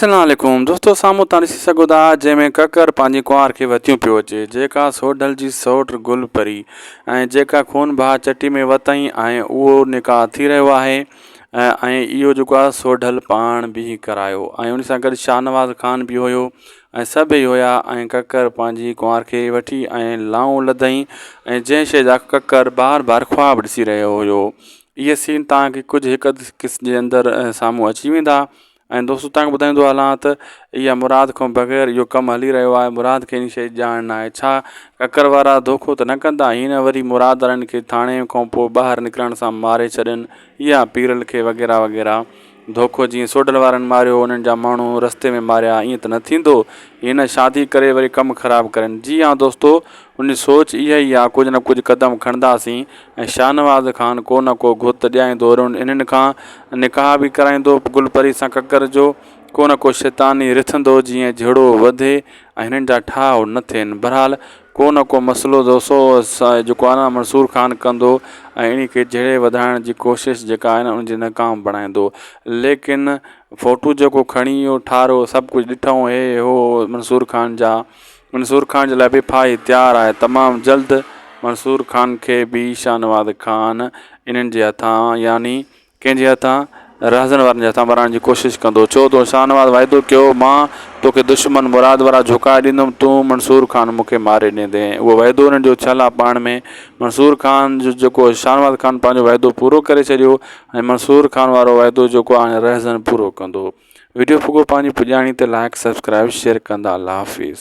اسلام عليڪم دوستو سامهون تان ڏسي سگهو ٿا جنهن ۾ ڪڪر پنهنجي ڪنوار کي وتيون پيو اچي جيڪا سوڍل جي سئوٽ گل پري ۽ جيڪا خون بها چٽي ۾ وتائين ۽ اهو نڪاح ٿي رهيو آهي ۽ اهو جيڪو آ سوڍل پاڻ به ڪرايو ۽ ان سان گڏ شاهنواز خان به هيو ۽ سڀئي هيا ۽ ڪڪر پنهنجي ڪنوار کي وٺي ۽ لائون لڌئين ۽ جنهن شيء جا ڪڪر بار بار خواب ڏسي رهيو هيو اهي سين تان کي ڪجهه هڪ اڌ قسط جي اندر سامهون اچي ويندا ۽ دوستو توهان کي ٻڌائيندو هلان ته اها مراد کان بغير اهو ڪم هلي رهيو آهي مراد کي ان شيء جي ڄاڻ نه آهي ڇا ڪڪر وارا ڌوڪو ته نه ڪندا هي نه وري مراد وارن کي ٿاڻي کان پوء ٻاهر نڪرڻ سان ماري ڇڏين يا پيرل کي وغيره وغيره ڌوڪو جيئن سوڍل وارن ماريو انهن جا ماڻهو رستي ۾ ماريا ائين ته نه ٿيندو هي نه شادي ڪري وري ڪم خراب ڪرين جي ها دوستو ان سوچ اها ئي آ ڪجهه نه ڪجهه قدم کڻنداسين ۽ شاهنواز خان ڪو نه ڪو گهت ڏيائيندو رهندو انهن کان نڪاح به ڪرائيندو گل پري سان ڪڪر جو ڪو نه ڪو شيطاني رٿندو جيئن جهڙو وڌي ۽ هنن جا ٺاهه نه ٿين برحال ڪو نه ڪو مسئلو جو سو جيڪو آ نه منصور خان ڪندو ۽ انهي کي جهڙي وڌائڻ جي ڪوشش جيڪا آهي نه ان جي ناڪام بڻائيندو ليڪن فوٽو جيڪو کڻي اهو ٺارهو سڀ ڪجهه ڏٺائون هي هو منصور خان جا منصور خان جي لاء به ڦاهي تيار آهي. تمام جلد منصور خان کي به شاهنواز خان انهن جي هٿان يعني ڪنهن جي هٿان؟ رهزن وارن جي هٿان ورائڻ جي ڪوشش ڪندو. ڇو تو شاهنواز وعدو ڪيو هو مان توکي دشمن مراد وارا جهوڪاء ڏيندم تون منصور خان مون کي ماري ڏيندين اهو وعدو انهن جو ڇل آ پاڻ ۾ منصور خان جو جيڪو شاهنواز خان پنهنجو وعدو پورو ڪري ڇڏيو ۽ منصور خان وارو وعدو جيڪو آ هاڻي رهزن پورو ڪندو. ويڊيو پڳو پنهنجي پڄاڻي تي لائيڪ سبسڪرائيب شيئر ڪندا الله حافظ.